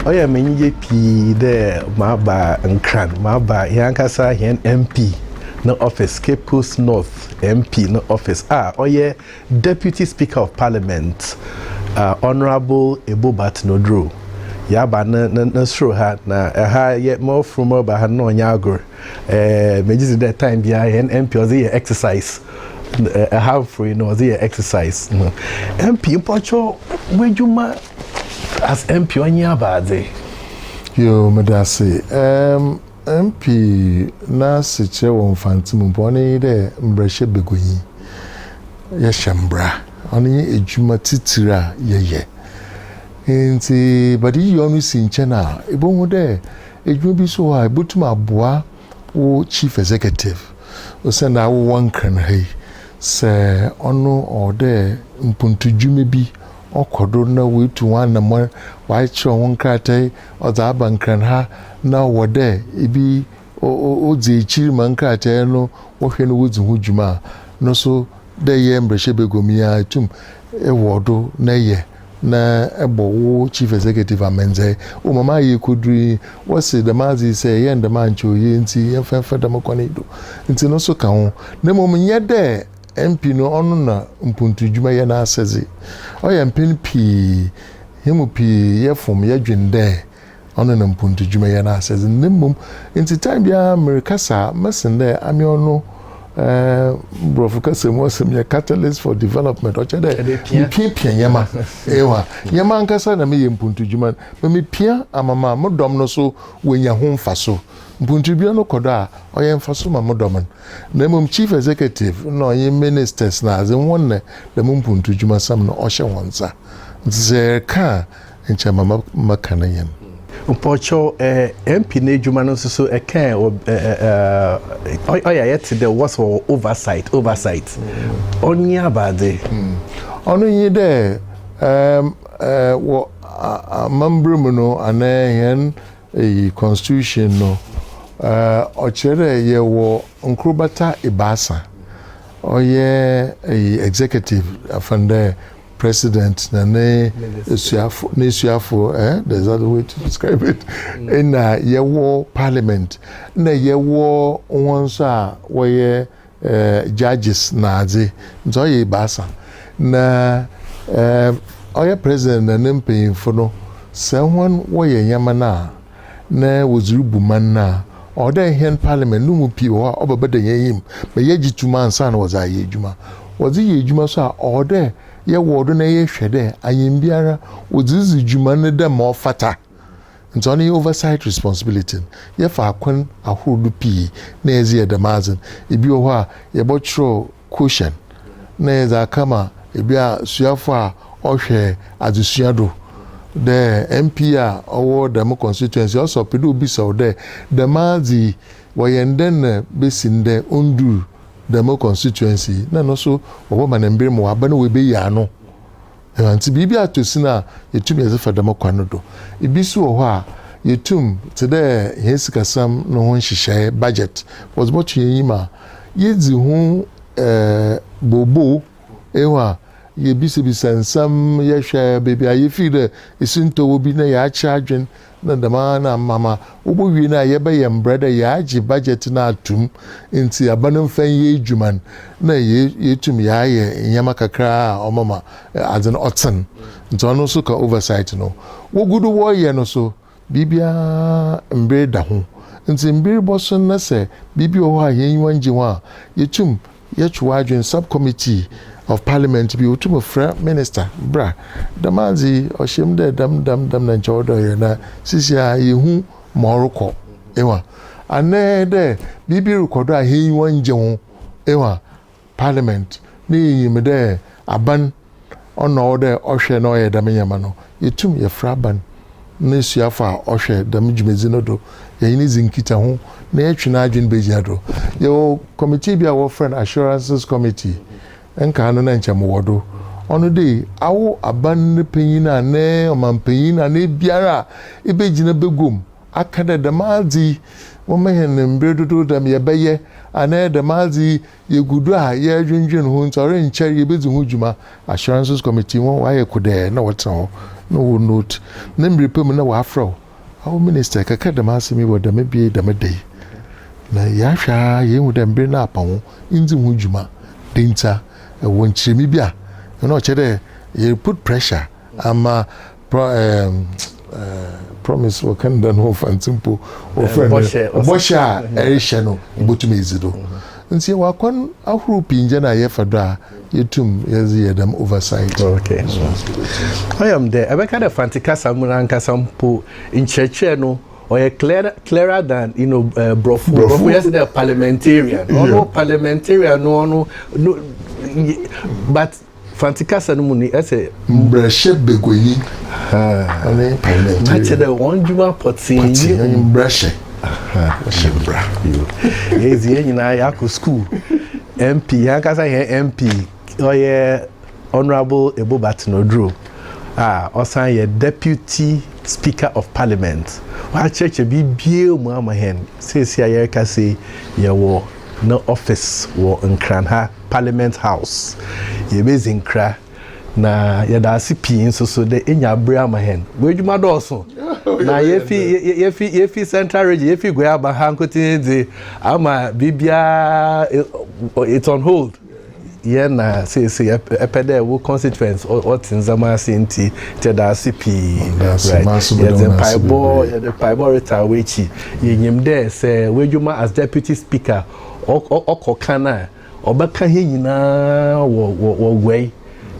ɔyɛ me enyigye pii dɛ maba nkran maba hɛn ankasa hɛn mp no office cape coast north mp no office a ɔyɛ deputy speaker of parliament uh, honourable ebo batenoduro yɛaba no no soro ha na ɛha yɛ mɔforo mɔba ha na ɔnyɛ agor Eh, me just that time be I and MP was here exercise. Eh, I have free no was here exercise. No. MP pocho where you ma as MP on your body. Yo, me da say. Um, MP na se kire won fanti mu po ne de mbrehye begonyi. Ye shembra. Oni ye edwuma titira ye ye. Nti badi yonu si nche na ibo hu de Edwuma bi so wɔ hɔ a ebotum aboa wo chief executive osiandɛ awo wɔnnkran ha yi sɛ ɔno ɔwɔ dɛ mpontudwuma bi ɔkɔ do na woetu ho anamɔn, wɔakyerɛw ho nkratae ɔdze aba nkran ha na ɔwɔ dɛ bi odzi ekyir ma nkratae no wɔhwɛ na wodzi ho dwuma a, no so dɛ eyɛ mbrahyɛbaguam yi ara itum wɔ do na eyɛ. na bɔ wo chief executive amandzeɛ. O ma m'ayɛ kɔduru yi, wɔse dɛm adze yi sɛ yɛyɛ no dɛm a nkyɛ oye ntsi yɛmfa mfa dɛm kwan yi do. Ntsi no so ka ho. Na mbom nnyɛ dɛ MP no ɔno na mpontu dwuma yɛ n'asɛdze. Ɔyɛ mpɛn pii hɛn mu pii yɛfom yɛdwen dɛ Ɔno na mpontu dwumayɛ no asɛdze no, na mbom ntsi time biara merekasa a mɛsen dɛ ame ɔno eh, Borɔfo kasa mu ɔsɛm yɛ catalyst for development, ɔkyerɛ dɛ mepiapia nyɛma, ewa, nyɛma ankasa na meyɛ mpontu dwuma no, ma mepia ama ma mo dɔm no so woenya ho mfaso. Mpontu dwuma no kɔ do a, ɔyɛ mfaso ma mo dɔm no, na mbom Chief Executive na ɔnye Ministers na adze hɔn na dɛm mpontu dwumasɛm no ɔhyɛ hɔn nsa. Ntsi sɛ yɛreka a, nkyɛ ma mɛka ne yɛn. Mpɔkyɛw eh MP no adwuma no nso so ɛka eh ɔyɛ eh, ayɛ te dɛ wɔsɛ wɔ oversight oversight ɔnye abadze. Hmm. Ɔno nye dɛ um, eh, wɔ amambra mu no anaa hɛn eyi constitution no eh, ɔkyerɛ dɛ yɛwɔ nkorbata ebaasa ɔyɛ eyi executive afan dɛ President na ne asuafo n'asuafo eh there's another way to describe it ɛna mm. yɛwɔ parliament na yɛwɔ wɔn nso a wɔyɛ eh, judges na adze nti ɔyɛ baasa na eh, ɔyɛ president na ne mpanyinfo no sɛ wɔn wɔyɛ nneɛma no a na wɔdze rubu man no a, ɔwɔ dɛ hɛn parliament no mu pii wɔ hɔ a ɔbɛbɛda hɛn enyim ma yɛagye tum ansaana wɔdze ayɛ edwuma. Wɔdze yɛ edwuma so a, ɔwɔ dɛ yɛwɔw do na yɛhwɛ dɛ ayɛmbiara wɔdze ridzi dwuma no dɛ ma ɔfata. Ntsi ɔno yɛ oversight responsibility no. Yɛfa akwan ahorow do pii na yɛdze yɛ dɛm adze no. Bi wɔ hɔ a, yɛbɔkyerɛw. Cushion na yɛdze aka ma bi a suafo a ɔhwɛ adzesua do dɛ MP a ɔwɔ dɛm constituency a ɔsɛ ɔpɛ dɛ obisa wo dɛ dɛm adze yi wɔyɛ no dɛn na besi ndɛ onndur dɛm constituency yi na no so wɔbɛma no mber ma ɔaba na oebeyi ano Ntsi biribi atɔ sin a, yetum yɛdze fa dɛm kwan no do. Bi so wɔ hɔ a, yetum, tse dɛ hɛn sikasɛm no ho nhyehyɛɛ, budget, wɔdze bɔto hɛn enyim a, yedzi ho boobow, ehu a, yebisabisa nsɛm, yɛhwɛ beebi a yefir dɛ esintɔ wɔ bi na yɛakyerɛ adwen. Na dɛm ara na ama ma wobowie no a yɛbɛyɛ mbrɛ dɛ yɛagye budget no ato mu ntsi aba no mfa nyɛ edwuma no na yeetum yɛayɛ ndzɛmba kakra a ɔbɛma adze no ɔtsen. Ntsi ɔno so ka oversight no wogu do wɔreyɛ no so. Biribiara mber da ho ntsi mber bɔso na sɛ biribi wɔ hɔ a hɛn enyiwa nngye ho a yetum Yɛtwe w'adwen Subcommittee of Parliament bi otum frɛ minister bra dɛm adze yi ɔhyem dɛ dɛm dɛm dɛm na nkyɛ ɔwɔ dɛ ɔyɛ na sisiara yehu ma ɔrokɔ ewa anɛɛ dɛ biribi rokɔ do a hɛn enyiwa nngye ho ewa Parliament ne yenyim dɛ aban Ɔno na ɔwɔ dɛ ɔhwɛ na ɔyɛ dɛm ndzɛmba no. Yetum yɛfrɛ aban n'esuafo a wɔhwɛ dɛm dwumadzi no do, yɛnye no dzi nkitaho, na yɛtwe n'adwen begyina do. Yɛwɔ kɔmitii bi a wɔfrɛ no Assurances Committee, nkaa no na nkyɛ mowɔ do. Ɔno de, awo aban no panyin anaa ɔmampanyin anaa biara a ibegyina begua mu aka dɛ dɛm adze yi wɔma hɛn mber dodow dɛm yɛbɛyɛ anaa dɛm adze yi Yegu do a yɛrodwendwen ho ntsi, ɔrennkyɛr yebedzi ho dwuma. Assurances Committee hɔn wɔayɛ kodɛɛ na wɔtsena hɔ na wɔ note ne mber pa mu na wɔafrɛ wo. Awo Minister, yɛkɛkɛr dɛm asɛm yi wɔ dɛm bea yi dɛm da yi, na yɛahwɛ ara yeehu dɛ mber no apa ho nndzi ho dwuma. Dɛn ntsi a? Wɔ nkyerɛmee bi a, nna ɔkyerɛ dɛ yɛreput pressure ama Pro, ɛɛ, ɛɛ, promise wɔ Canada no wɔfa nti mpo wɔfrɛ no bɔhyɛ a ɛrehyɛ no wobɛtumi adzi do. Nti yɛwɔ akwan ahorow pii ngya no a yɛfa do a yɛtum yɛdze yɛ dɛm oversight. Okay. Ɔyɛ m dɛ ɛbɛka dɛ Fante kasa mu no ankasa mpo nkyerɛkyerɛ no ɔyɛ clearer, clearer than you know, uh, Brɔfo. Brɔfo yɛ sɛ dɛ parliamentarian. Ɔno parliamentarian no ɔno no but Fante kasa no mu ni, ɛsɛ. Mmrahyɛbaguanyi ne Parliamentarian. Na kyerɛ dɛ wɔn dwuma pɔtsee nye. Pɔtsee nye mmrahyɛ. Wɔhyɛ mbra. Yɛ dzi yɛn nyinaa yɛakɔ sukuu. MP yɛn ankasa yɛn MP ɔyɛ Honourable Ebo Baten Oduro a ɔsan yɛ Deputy Speaker of Parliament. Wɔakyerɛkyerɛ biribiara mu ama hɛn. Seesei a yɛrekasa yi yɛwɔ ne office wɔ Nkran ha. Parliament House. Yebedzi nkra, na yɛda ase pii nso so dɛ enya aber ama hɛn. W'edwuma dɔɔ sõ, na yefi yefi yefi Central Region, yefi Goiaba ha nkotsee dze ama biribiara it's on hold. Yɛ na sesei epɛ dɛ wo constituents wɔtse ndzɛmba ase ntsi yɛda ase pii. Yɛdze mpaebɔ yɛdze mpaebɔ retsan w'ekyir. Yenyim dɛ sɛ w'edwuma as Deputy Speaker ɔkɔ kan a ɔbɛka hɛn nyina wɔ wɔ wɔ guai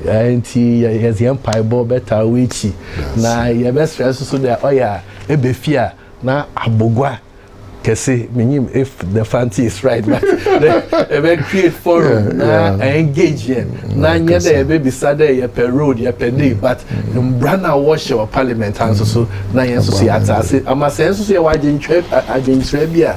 eh, nti yɛdze hɛn mpaebɔ bɛtaa w'ekyi na yɛbɛsrɛ so so dɛ ɔyɛ a ebɛ fie a na abogua kɛse menyim if the fancy is right but dɛ ɛbɛ create forum na engage yɛn na nyɛ dɛ yɛbɛbisa dɛ yɛpɛ road yɛpɛ dei but mbra no a wɔhyɛ wɔ parliament ha nso so na yɛn nso so yɛatse ase ama sɛ nso so yɛwɔ adwenkyerɛ bi a